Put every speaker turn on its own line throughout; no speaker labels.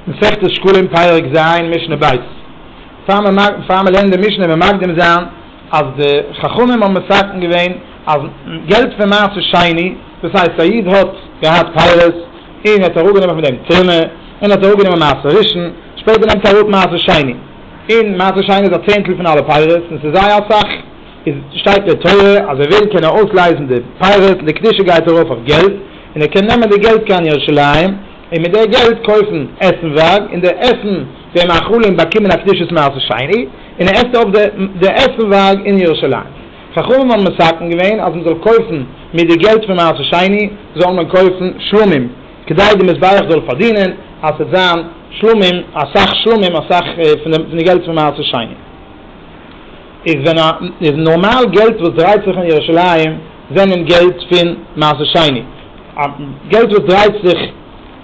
מסכת שקלים פרק ז משנה ב', פאר מען לערנט די משנה מען מקדים זיין אז די חכמים האבן מסכם געווען אז געלט פון מעשה שני, דאס הייסט א איד האט געהאט פירות און ער האט אראפגענומען פון דעם תרומה און ער האט אראפגענומען מעשר ראשון, שפעטער נעמט ער אראפ מעשר שני, און מעשר שני איז א צענטל פון אלע פירות און ס'איז זייער אסאך, איז שטייט אין תורה אז ער וויל קען ער אויסלייזן די פירות און די קדושה גייט ארויף אויף געלט און ער קען נעמען די געלט קיין ירושלים, און מיט די געלט קויפן עסנווארג, און די עסן די מאכלים באקומען א קדושת מעשה שני, און ער עסט אויף די עסנווארג אין ירושלים. חכמים האבן מסכם געווען אז מען זאל קויפן מיט די געלט פון מעשה שני זאל מען קויפן שלמים, כדי די מזבח זאל פארדינען אז ס'וועט זיין שלמים, אסאך שלמים, אסאך פון די געלט פון מעשה שני. איז ווען א איז נארמאל געלט וואס דרייט זיך אין ירושלים זענען געלט פון מעשה שני א געלט וואס דרייט זיך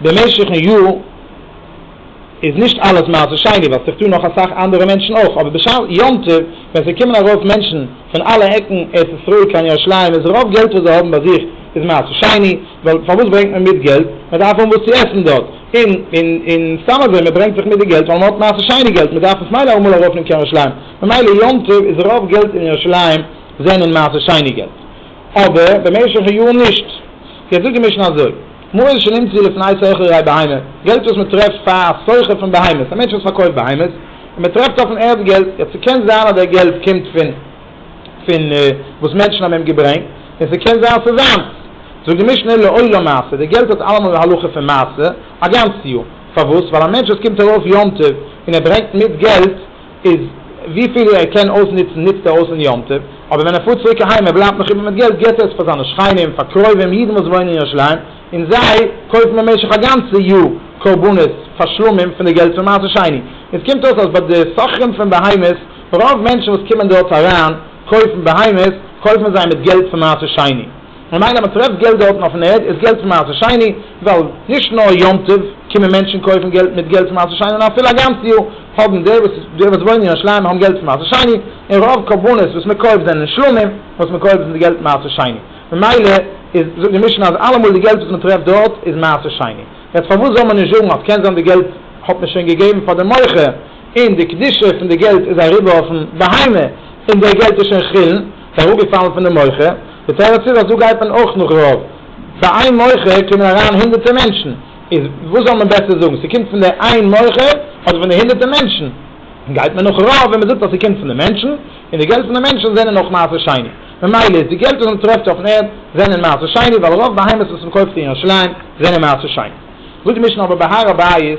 במשך'ן יאר איז נישט אלעס מעשה שני ווייל ס'איז דא נאך אסאך אנדערע מענטשן אויך אבער בשעת יום טוב ווען ס'קומען ארויף מענטשן פון אלע עקן ארץ ישראל קיין ירושלים איז רוב געלט וואס זיי האבן ביי זיך איז מעשה שני ווייל פארוואס ברענגט מען מיט געלט מען דארף האבן וואס צו עסן דארט און און און סתם אזוי מען ברענגט זיך מיט די געלט ווייל מען האט מעשה שני געלט מען דארף עס מילא אמאל ארויף נעמען קיין ירושלים. ממילא יום טוב איז רוב געלט אין ירושלים זענען מעשה שני געלט, אבער במשך היאר נישט. יעצט זאגט די משנה אזוי, מעות שנמצאו לפני סוחר ראי בהמה, געלט וואס מען טרעפט פאר א סוחר פון בהמות, א מענטש וואס פארקויפט בהמות, און מען טרעפט אויפן ערד געלט, יעצט ס'קען זיין אז דער געלט קומט פון פון וואס מענטשן האבן אים געברענגט, און ס'קען זיין אז ס'איז זיינס. זאגט די משנה לעולם מעשה, די געלט האט אלעמאל די הלכה פון מעשה א גאנץ יאר, פארוואס? ווייל א מענטש וואס קומט ארויף יום טוב און ער ברענגט מיט געלט, איז וויפיל ער קען אויסנוצן נוצט ער אויס אין יום טוב, אבער ווען ער פארט צוריק אהיים ער בלייבט נאך איבער מיט געלט געט ער עס פאר זיינע שכנים, פאר קרובים, אידן וואס וואוינען אין ירושלים, און זיי קויפן במשך א גאנצע יאר קרבנות פאר שלמים פון די געלט פון מעשר שני. און עס קומט אויס אז ביי די סוחרים פון בהמות, רוב מענטשן וואס קומען דארט אריין קויפן בהמות, קויפן זיי מיט געלט פון מעשר שני. ממילא מען טרעפט געלט דארטן אויפן ערד איז געלט פון מעשה שני, ווייל נישט נאר יום טוב קומען מענטשן קויפן געלט מיט געלט פון מעשה שני נאר אפילו א גאנץ יאר האבן די וואס די וואס וואוינען אין ירושלים האבן געלט פון מעשה שני און רוב קרבנות וואס מען קויפט זענען שלמים וואס מען קויפט זענען די געלט מעשה שני ממילא איז זאגט די משנה אז אלעמאל די געלט וואס מען טרעפט דארט איז מעשה שני יעצט פארוואס זאל מען נישט זאגן אז קען זיין די געלט האט מען שוין געגעבן פאר די מוכר און די קדושה פון די געלט איז אריבער אויפן בהמה און די געלט איז שוין חולין. ס'איז אראפגעפאלן פון די מוחה, די תירוץ איז אזא גייט מען אויך נאך רוב, פאר איין מוחה קומען אריין הונדערטער מענטשן, איז וואס זאל מען בעסער זאגן, ס'קומט פון די איין מוחה אדער פון די הונדערטער מענטשן, גייט מען נאך רוב ווען מ'זאגט אז ס'קומט פון די מענטשן, און די געלט פון די מענטשן זענען אויך מעשר שני, ממילא איז די געלט וואס מ'טרעפט אויפן ערד זענען מעשר שני, ווייל רוב בהמות וואס מ'קויפט אין ירושלים זענען מעשר שני. זאגט די משנה אבער ביי הר הבית,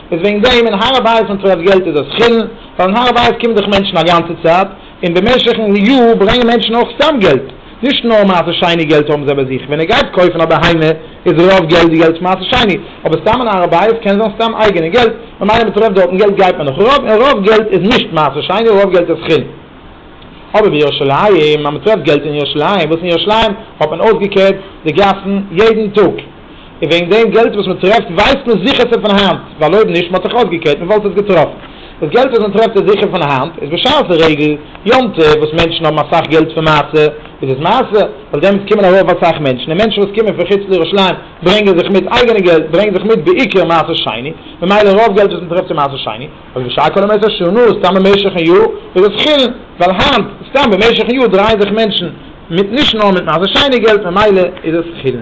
איז וועגן דעם אין הר הבית ווען טרעפט געלט איז עס חילן, ווייל אין הר הבית קומען דאך מענטשן א גאנצע צייט, און במשך'ן יאר ברענגען מענטשן אויך סתם געלט, נישט נאר מעשה שני געלט האבן זיי ביי זיך, ווען ער גייט קויפן א בהמה איז רוב געלט די געלט פון מעשה שני, אבער סתם אין הר הבית קען זיין סתם אייגענע געלט, ממילא מען טרעפט דארטן געלט גייט מען נאך רוב, און רוב געלט איז נישט מעשה שני רוב געלט איז חילן. אבער בירושלים אז מען טרעפט געלט אין ירושלים, וואס אין ירושלים האט מען אויסגעקערט די גאסן יעדן טאג, און וועגן דעם געלט וואס מען טרעפט ווייסט מען זיכער ס'איז פון היינט, ווייל אויב נישט מען האט זיך אויסגעקערט מען וואלט עס געטראפן. דאס געלט וואס מען טרעפט איז זיכער פון היינט, איז בשעת די רגל יום טוב וואס מענטשן האבן אסאך געלט פון מעשה, איז עס מעשה, ווייל דעמאלטס קומען ארויף אסאך מענטשן, און מענטשן וואס קומען פון חוץ לירושלים ברענגען זיך מיט אייגענע געלט, ברענגט זיך מיט בעיקר מעשר שני, ממילא רוב געלט וואס מען טרעפט איז מעשר שני, אבער בשעת כל המעשר שנו, סתם במשך'ן יאר, איז עס חילן, ווייל היינט, סתם במשך'ן יאר דרייען זיך מענטשן, מיט נישט נאר מיט מעשה שיינע געלט ממילא איז עס חילול.